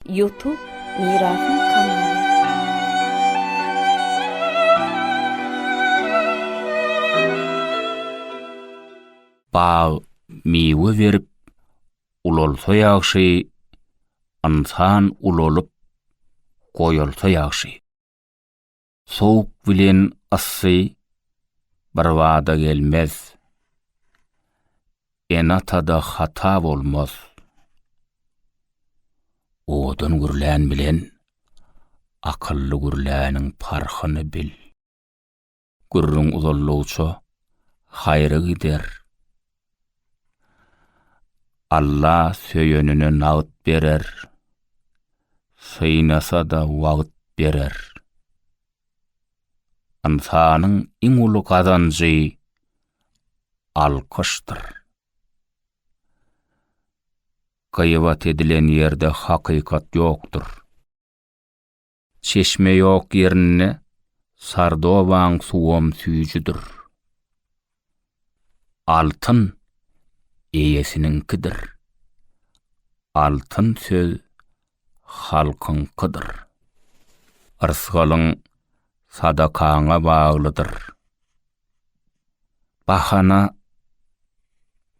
Ýutub Mirasyň kanaly. Bag miwe berip ulalsa ýagşy, Ynsan ulalyp goýalsa ýagşy. Sowuk bilen yssy birbada gelmez. Ene-atada hata bolmaz. Owadan gürlän bilen akylly gürläniň parhyny bil. Gürrüň uzaldygyça haýra gider, Alla söýenine nagt berer, synasa-da wagt berer. Ynsanyň iň uly gazanjy alkyşdyr. Gyýbat edilen ýerde hakykat ýokdur. Çeşme ýok ýerinde Sardobaň suwam süýjüdir. Altyn eýesiniňkidir. Altyn söz halkyňkydyr. Rysgalyň sadakaňa baglydyr. Bahana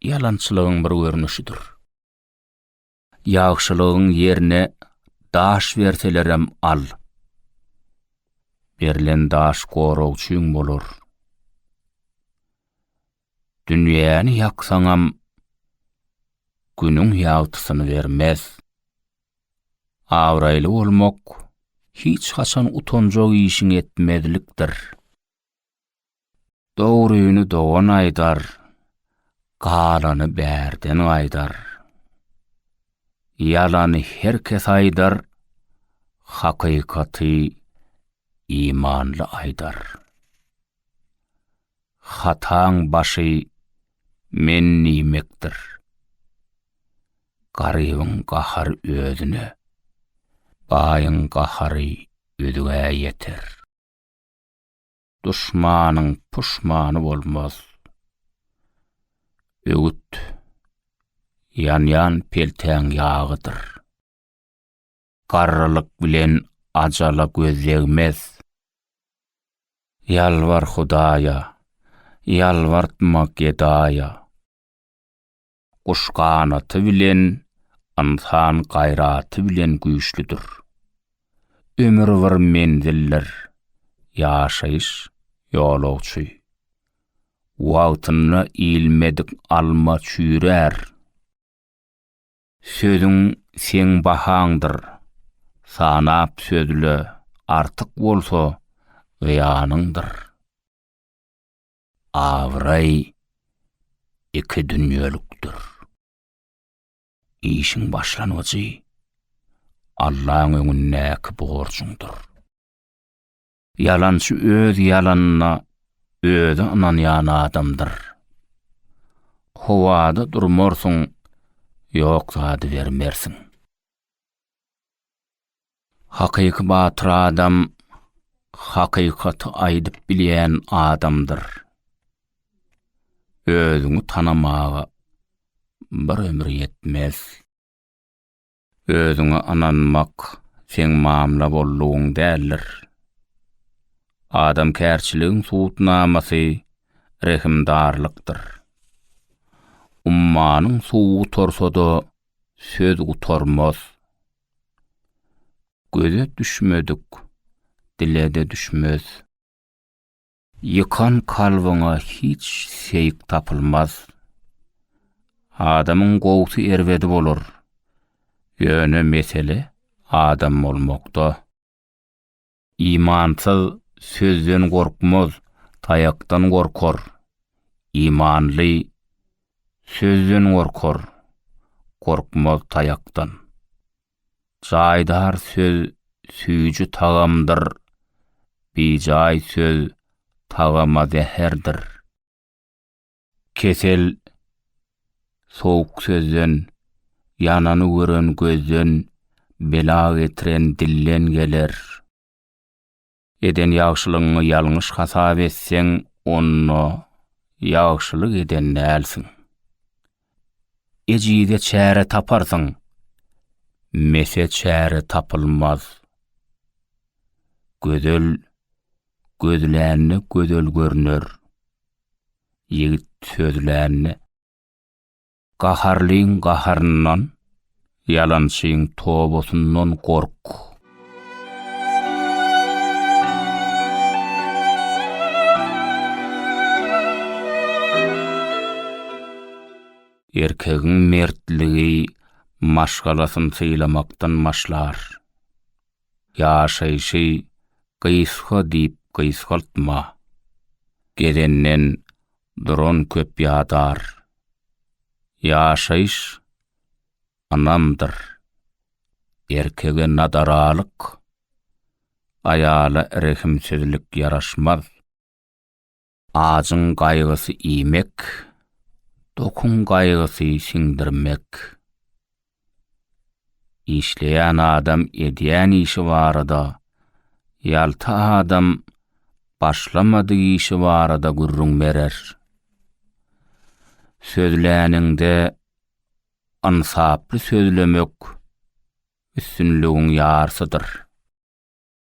ýalançylygyň bir görnüşidir. Ýagşylygyň ýerine daş berselerem al. Berlen daş goragçyň bolar. Dünýäni ýaksaňam günüň ýagtysyny bermez. Abraýly bolmak hiç haçan utanjak işiň etmezlikdir. Dogryny dogan aýdar, galany bärden gaýdar. Ýalany her kes aýdar, hakykaty imanly aýdar. Hataň başy men diýmekdir. Garybyň gahary özüne, baýyň gahary özgä ýeter. Duşmanyň puşmany bolmaz. Öwüt, Ýanýan peltäň ýagydyr. Garrylyk bilen ajala göz degmez. Ýalbar Hudaýa, ýalbartma gedaýa. Guş ganaty bilen, ynsan gaýraty bilen güýçlüdir. Ömür bir menzildir, ýaşaýyş, ýolagçy. Wagtynda iýilmedik alma çüýrär. Sözüň seň bahaňdyr, sanap sözle, artyk bolsa, zyýanyňdyr. Abraý iki dünýelikdir. Işiň başlangyjy Allaň öňündäki borjuňdyr. Ýalançy öz ýalanyna özi ynanýan adamdyr. Howada durmarsyň, ýok zady bermersiň. Hakyky batyr adam hakykaty aýdyp bilýän adamdyr. Özüňi tanamaga bir ömür ýetmez. Özüňe ynanmak seň mamla boldugyň däldir. Adamkärçiligiň subutnamasy rehimdarlykdyr. Ummanyň suwy gutarsa-da söz gutarmaz. Göze düşmedik, dile-de düşmez. Ýykan kalbyňa hiç seýik tapylmaz. Adamyň gowsy erbedi bolar. Ýöne mesele adam bolmakda. Imansyz sözden gorkmaz, taýakdan gorkar, imanly sözden gorkar, gorkmaz taýakdan. Jaýdar söz süýji tagamdyr, bijaý söz tagama zäherdir. Kesel sowuk sözden, ýanany gören gözden, bela getiren dilden geler. Eden ýagşylygyňy ýalňyş hasap etseň, onda ýagşylyk eden dälsiň. Ejize çäre taparsyň, mese çäre tapylmaz. Gözel gözlände gözel görner. Ýigit sözlände, Gaharlyň gaharyndan, ýalançyň tobasyndan gork. Erkegiň mertligi maşgalasyny sylamakdan başlar. ýaşaýşy gysga diýip gysgaltma. Gedenden duran köp ýadar. Ýaşaýyş ynamdyr. Erkege nadaralyk, aýala rehimsizlik ýaraşmaz. Ajyň gaýgysy iýmek, dokuň gaýgysy siňdirmek. Işleýän adam edýän işi barada, ýalta adam başlamadyk işi barada gürrüň berer. Sözläniňde ynsaply sözlemek üstünligiň ýarsydyr.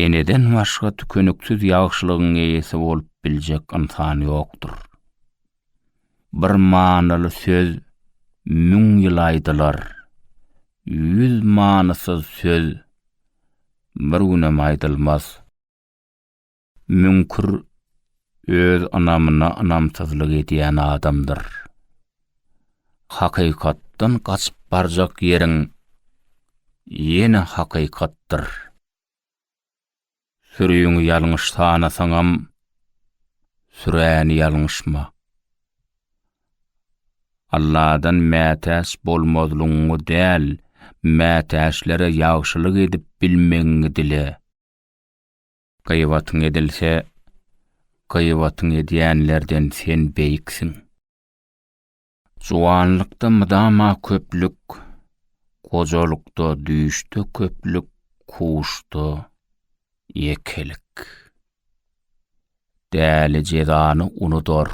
Eneden başga tükeniksiz ýagşylygyň eýesi bolup biljek ynsan ýokdur. Bir manyly söz müň ýyl aýdylar, ýüz manysyz söz bir günem aýdylmaz. Müňkür öz ynamyna ynamsyzlyk edýän adamdyr. Hakykatdan gaçyp barjak ýeriň ýene hakykatdyr. Süriňi ýalňyş sanasaňam, süräni ýalňyşma. Alladan mätäç bolmazlygyňy däl, mätäçlere ýagşylyk edip bilmegiňi dile. Gyýbatyň edilse, gyýbatyň edýänlerden sen beýiksiň. Juwanlykda mydama köplük, gojalykda, düýşde köplük, kuşda ýekelik. Däli jezany unudar,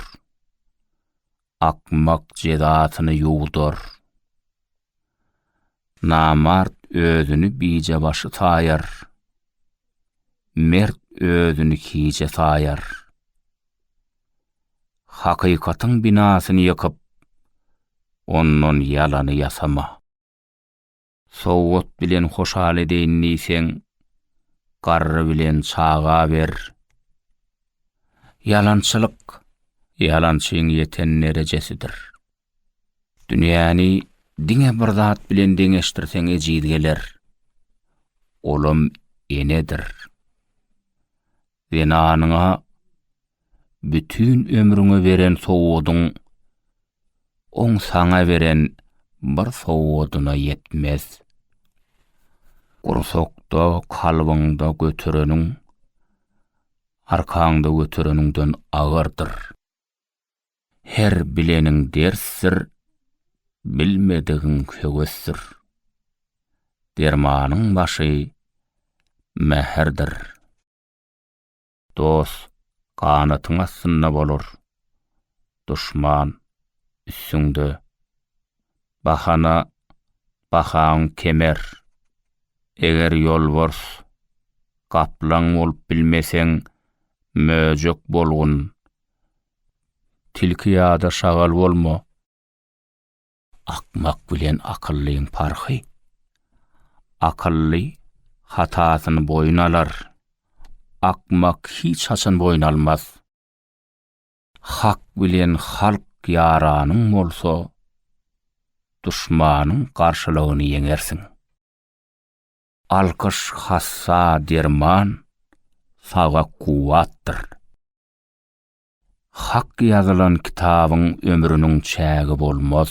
akmak jezasyny ýuwdar. Namart özüni bije başy saýar, Mert özüni kije saýar. Hakykatyň binasyny ýykyp, Ondan ýalany ýasama. Sowat bilen hoşal edeýin diýseň, Garry bilen çaga ber. Ýalançylyk, ýalançyň ýeten derejesidir. Dünýäni diňe bir zat bilen deňeşdirseň ejiz geler. Olam enedir. Zenanyňa bütin ömrüňe beren sowgadyň oň saňa beren bir sowgadyna ýetmez. Gursakda, kalbyňda götereniň arkaňda götereniňden agyrdyr. Her bileniň dersdir, bilmedigiň höwesdir. Dermanyň başy mähirdir. Dost ganatyň astynda bolar, duşman üstüňde. Bahana bahaň kemer. Eger ýolbars, gaplaň bolup bilmeseň, möjek bolgun, Tilki ýa-da şagal bolma. Akmak bilen akyllyň parhy. Akylly hatasyny boýun alar. Akmak hiç haçan boýun almaz. Hak bilen halk ýaranyň bolsa, duşmanyň garşylygyny ýeňersiň. Alkyş hassa derman, saga kuwwatdyr. Hak ýazylan kitabyň ömrüniň çägi bolmaz.